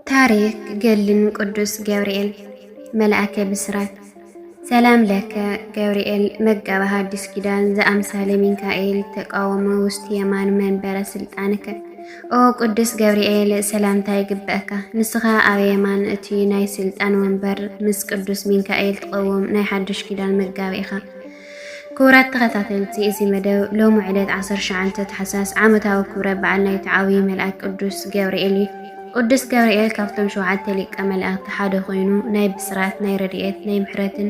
ታሪክ ገድልን ቅዱስ ገብርኤል መልኣከ ብስራት ሰላም ለከ ገብርኤል መጋቢ ሐዲስ ኪዳን ዘአምሳለ ሚካኤል ተቃወመ ውስጥ የማን መንበረ ስልጣንከ ኦ ቅዱስ ገብርኤል ሰላምታ ይግበአካ ንስኻ ኣብ የማን እቲ ናይ ስልጣን ወንበር ምስ ቅዱስ ሚካኤል ትቐውም ናይ ሓድሽ ኪዳን መጋቢ ኢኻ ክቡራት ተኸታተልቲ እዚ መደብ ሎሚ ዕለት 19 ታሕሳስ ዓመታዊ ክብረ በዓል ናይቲ ዓብዪ መልኣክ ቅዱስ ገብርኤል እዩ። ቅዱስ ገብርኤል ካብቶም ሸውዓተ ሊቀ መላእክቲ ሓደ ኮይኑ ናይ ብስራት፣ ናይ ረድኤት፣ ናይ ምሕረትን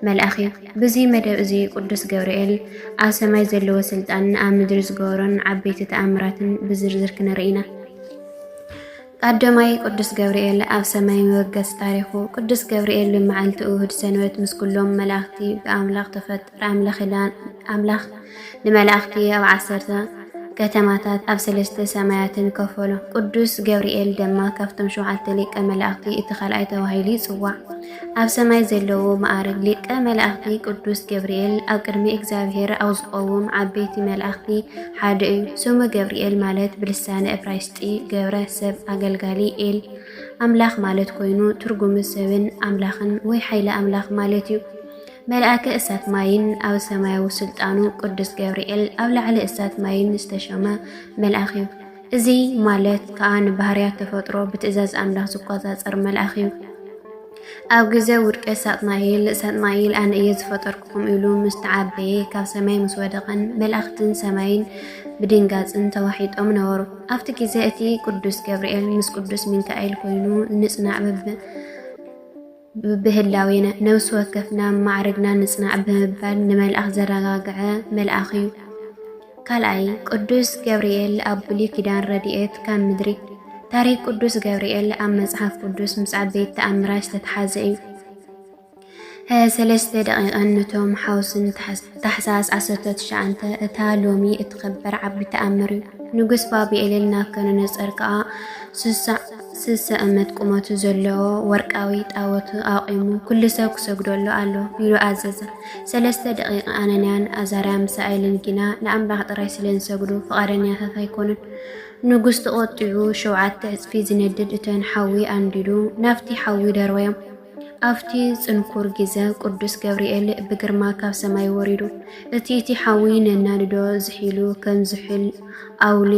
መልኣኽ እዩ። ብዚ መደብ እዚ ቅዱስ ገብርኤል ኣብ ሰማይ ዘለዎ ስልጣንን ኣብ ምድሪ ዝገበሮን ዓበይቲ ተኣምራትን ብዝርዝር ክንርኢ ኢና። ኣደማይ ቅዱስ ገብርኤል ኣብ ሰማይ መበገሲ ታሪኹ ቅዱስ ገብርኤል ብመዓልቲ እሁድ ሰንበት ምስ ኩሎም መላእኽቲ ብኣምላኽ ተፈጠረ ኣምላኽ ንመላእኽቲ ኣብ ዓሰርተ ከተማታት ኣብ ሰለስተ ሰማያትን ከፈሎ። ቅዱስ ገብርኤል ድማ ካብቶም ሸውዓተ ሊቀ መላእኽቲ እቲ ካልኣይ ተባሂሉ ይጽዋዕ። ኣብ ሰማይ ዘለዉ መኣርግ ሊቀ መላእኽቲ ቅዱስ ገብርኤል ኣብ ቅድሚ እግዚኣብሔር ኣብ ዝቆውም ዓበይቲ መላእኽቲ ሓደ እዩ። ስሙ ገብርኤል ማለት ብልሳነ እብራይስጢ ገብረ ሰብ ኣገልጋሊ ኤል ኣምላኽ ማለት ኮይኑ ትርጉሙ ሰብን ኣምላኽን ወይ ሓይለ ኣምላኽ ማለት እዩ። መልኣከ እሳት ማይን ኣብ ሰማያዊ ስልጣኑ ቅዱስ ገብርኤል ኣብ ላዕሊ እሳት ማይን ዝተሸመ መልኣኽ እዩ። እዚ ማለት ከኣ ንባህርያት ተፈጥሮ ብትእዛዝ ኣምላኽ ዝቆጻጸር መልኣኽ እዩ። ኣብ ግዜ ውድቀት ሳጥናኤል፣ ሳጥናኤል ኣነ እየ ዝፈጠርኩኹም ኢሉ ምስ ተዓበየ ካብ ሰማይ ምስ ወደቐን መላእኽትን ሰማይን ብድንጋጽን ተዋሒጦም ነበሩ። ኣብቲ ግዜ እቲ ቅዱስ ገብርኤል ምስ ቅዱስ ሚካኤል ኮይኑ ንጽናዕ ብብህላዌና፣ ነብሲ ወከፍና ማዕርግና ንጽናዕ ብምባል ንመልኣኽ ዘረጋግዐ መልኣኽ እዩ። ካልኣይ፣ ቅዱስ ገብርኤል ኣብ ብሉይ ኪዳን ረድኤት ካብ ምድሪ። ታሪኽ ቅዱስ ገብርኤል ኣብ መጽሓፍ ቅዱስ ምስ ዓበይቲ ተኣምራት ዝተተሓዘ እዩ። ሰለስተ ደቂቐን ነቶም ሓውስን ታሕሳስ 19 እታ ሎሚ እትኸበር ዓቢ ተኣምር እዩ። ንጉስ ባቢኤልን ናብከነነጸር ከኣ ስሳ ስሰ እመት ቁመቱ ዘለዎ ወርቃዊ ጣወቱ ኣቑሙ ኩሉ ሰብ ክሰግደሉ ኣሎ ኢሉ ኣዘዘ። ሰለስተ ደቂቅ ኣነንያን ኣዛርያ ምሳኤልን ግና ንኣምላኽ ጥራይ ስለ ዝሰግዱ ፍቓደኛታት ኣይኮኑን። ንጉስ ተቖጢዑ ሸውዓተ ዕጽፊ ዝነድድ እቶን ሓዊ ኣንዲዱ ናብቲ ሓዊ ደርበዮም። ኣብቲ ጽንኩር ግዘ ቅዱስ ገብርኤል ብግርማ ካብ ሰማይ ወሪዱ እቲ እቲ ሓዊ ነናድዶ ዝሒሉ ከም ዝሑል ኣውሊ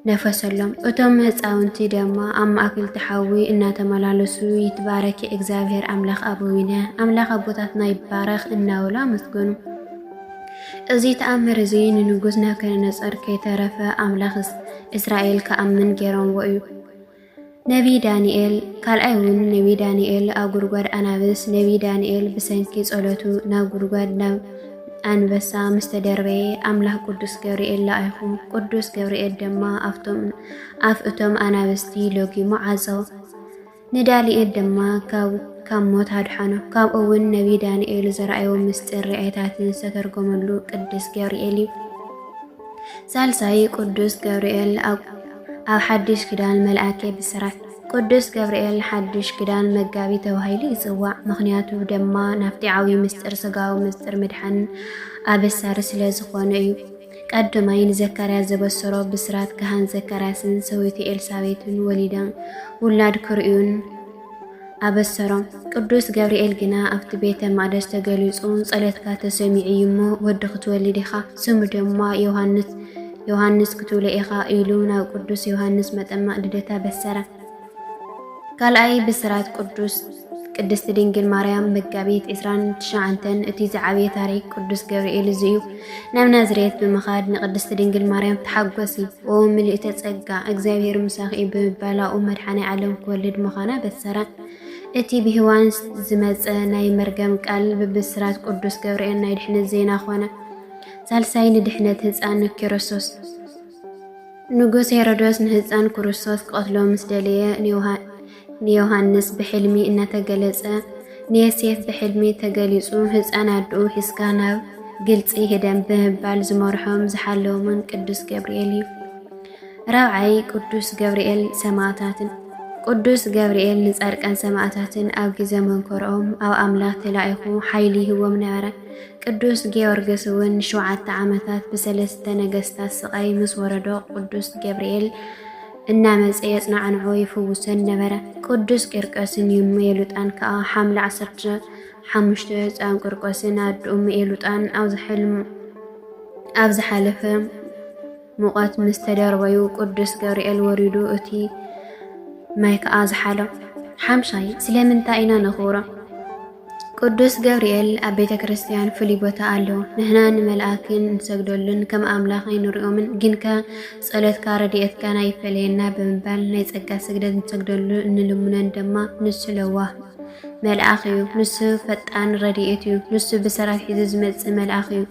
ነፈሰሎም። እቶም ህፃውንቲ ደማ ኣብ ማእክልቲ ሓዊ እናተመላለሱ ይትባረኪ እግዚኣብሔር ኣምላክ ኣበዊነ ኣምላክ ኣቦታትና ይባረክ እናበሉ ኣመስገኑ። እዚ ተኣምር እዚ ንንጉስ ናቡከደነፆር ከይተረፈ ኣምላክ እስራኤል ክኣምን ገይሮምዎ እዩ። ነብዪ ዳንኤል፣ ካልኣይ እውን ነብዪ ዳንኤል ኣብ ጉድጓድ ኣናብስ፣ ነብዪ ዳንኤል ብሰንኪ ጸሎቱ ናብ ጉድጓድ ናብ ኣንበሳ ምስ ተደርበየ ኣምላኽ ቅዱስ ገብርኤል ለኣይኹ ቅዱስ ገብርኤል ድማ ኣብቶም ኣፍ እቶም ኣናብስቲ ሎጊሙ ዓጾ ንዳንኤል ድማ ካብ ካብ ሞት ኣድሓኖ ካብኡ እውን ነቢይ ዳንኤል ዘርኣዮ ምስጢር ርኣይታትን ዝተተርጎመሉ ቅዱስ ገብርኤል እዩ ሳልሳይ ቅዱስ ገብርኤል ኣብ ኣብ ሓድሽ ክዳን መልኣከ ብስራት ቅዱስ ገብርኤል ሓድሽ ክዳን መጋቢ ተባሂሉ ይጽዋዕ። ምኽንያቱ ድማ ናብቲ ዓብዪ ምስጢር ስጋዊ ምስጢር ምድሓን ኣበሳሪ ስለ ዝኾነ እዩ። ቀዳማይ ንዘካርያስ ዘበሰሮ ብስራት ካህን ዘካርያስን ሰበይቱ ኤልሳቤትን ወሊዳ ውላድ ክርእዩን ኣበሰሮም። ቅዱስ ገብርኤል ግና ኣብቲ ቤተ መቕደስ ተገሊጹ ጸሎትካ ተሰሚዑ እዩ እሞ ወዲ ክትወልድ ኢኻ፣ ስሙ ድማ ዮሃንስ ዮሃንስ ክትብሎ ኢኻ ኢሉ ናብ ቅዱስ ዮሃንስ መጠመቕ ልደታ በሰረ። ካልኣይ ብስራት ቅዱስ ቅድስቲ ድንግል ማርያም መጋቢት 29 እቲ ዝዓበየ ታሪክ ቅዱስ ገብርኤል እዚ እዩ። ናብ ናዝሬት ብምኻድ ንቅድስት ድንግል ማርያም ተሓጎሲ ኦ ምልእተ ጸጋ እግዚኣብሔር ምሳኺ ብምባላኡ መድሓኔ ዓለም ክወልድ ምዃና በሰራ። እቲ ብሔዋን ዝመጸ ናይ መርገም ቃል ብብስራት ቅዱስ ገብርኤል ናይ ድሕነት ዜና ኮነ። ሳልሳይ ንድሕነት ህፃን ክርስቶስ ንጉስ ሄሮዶስ ንህፃን ክርስቶስ ክቐትሎ ምስ ደለየ ንዮሃንስ ብሕልሚ እናተገለጸ ንየሴፍ ብሕልሚ ተገሊጹ ህፃን ኣድኡ ሒዝካ ናብ ግልፂ ሄደን ብምባል ዝመርሖም ዝሓለዎምን ቅዱስ ገብርኤል እዩ። ራብዓይ ቅዱስ ገብርኤል ሰማዕታትን ቅዱስ ገብርኤል ንጻድቃን ሰማዕታትን ኣብ ግዜ መንኮርኦም ኣብ ኣምላኽ ተላኢኹ ሓይሊ ይህቦም ነበረ። ቅዱስ ጊዮርግስ እውን ንሸውዓተ ዓመታት ብሰለስተ ነገስታት ስቓይ ምስ ወረዶ ቅዱስ ገብርኤል እናመጸ የጽናዕንዖ ይፍውሰን ነበረ። ቅዱስ ቂርቀስን ዩን መኤሉጣን ከኣ ሓምለ ዓሰርተ ሓሙሽተ ህጻን ቂርቆስን ኣድኡ መኤሉጣን ኣብዚ ሕልም ኣብ ዝሓለፈ ሙቐት ምስ ተደርበዩ ቅዱስ ገብርኤል ወሪዱ እቲ ማይ ከኣ ዝሓሎ። ሓምሻይ ስለምንታይ ኢና ነኽብሮ? ቅዱስ ገብርኤል ኣብ ቤተ ክርስቲያን ፍሉይ ቦታ ኣሎ። ንሕና ንመልኣክ ንሰግደሉን ከም ኣምላኽ ኣይንሪኦምን፣ ግንከ ጸሎትካ ረድኤትካን ኣይፈለየና ብምባል ናይ ጸጋ ስግደት ንሰግደሉ እንልምኖን ድማ ንሱ ለዋህ መልኣኽ እዩ። ንሱ ፈጣን ረድኤት እዩ። ንሱ ብሰራብ ሒዙ ዝመጽእ መልኣኽ እዩ።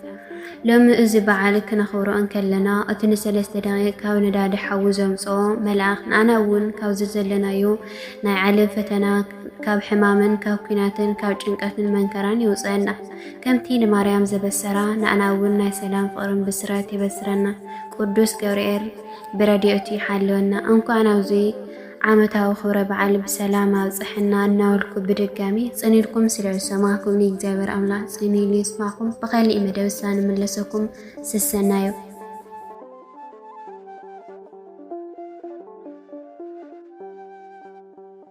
ሎሚ እዚ በዓል ክነኽብሮ እንከለና እቲ ንሰለስተ ደቂቕ ካብ ነዳዲ ሓዊ ዘምጽኦ መልኣኽ ንኣና እውን ካብዚ ዘለናዮ ናይ ዓለም ፈተና ካብ ሕማምን ካብ ኩናትን ካብ ጭንቀትን መንከራን ይውፀና ከምቲ ንማርያም ዘበሰራ ንኣና እውን ናይ ሰላም ፍቅርን ብስራት የበስረና ቅዱስ ገብርኤል ብረድኤቱ ይሓልወና እንኳዕ ናብዚ ዓመታዊ ክብረ በዓል ብሰላም ኣብፀሐና እናበልኩ ብድጋሚ ፅን ኢልኩም ስለ ዝሰማዕኩምኒ እግዚኣብሔር ኣምላኽ ፅን ኢሉ ይስማዕኩም። ብኸሊእ መደብ እሳ ንምለሰኩም ስሰናዩ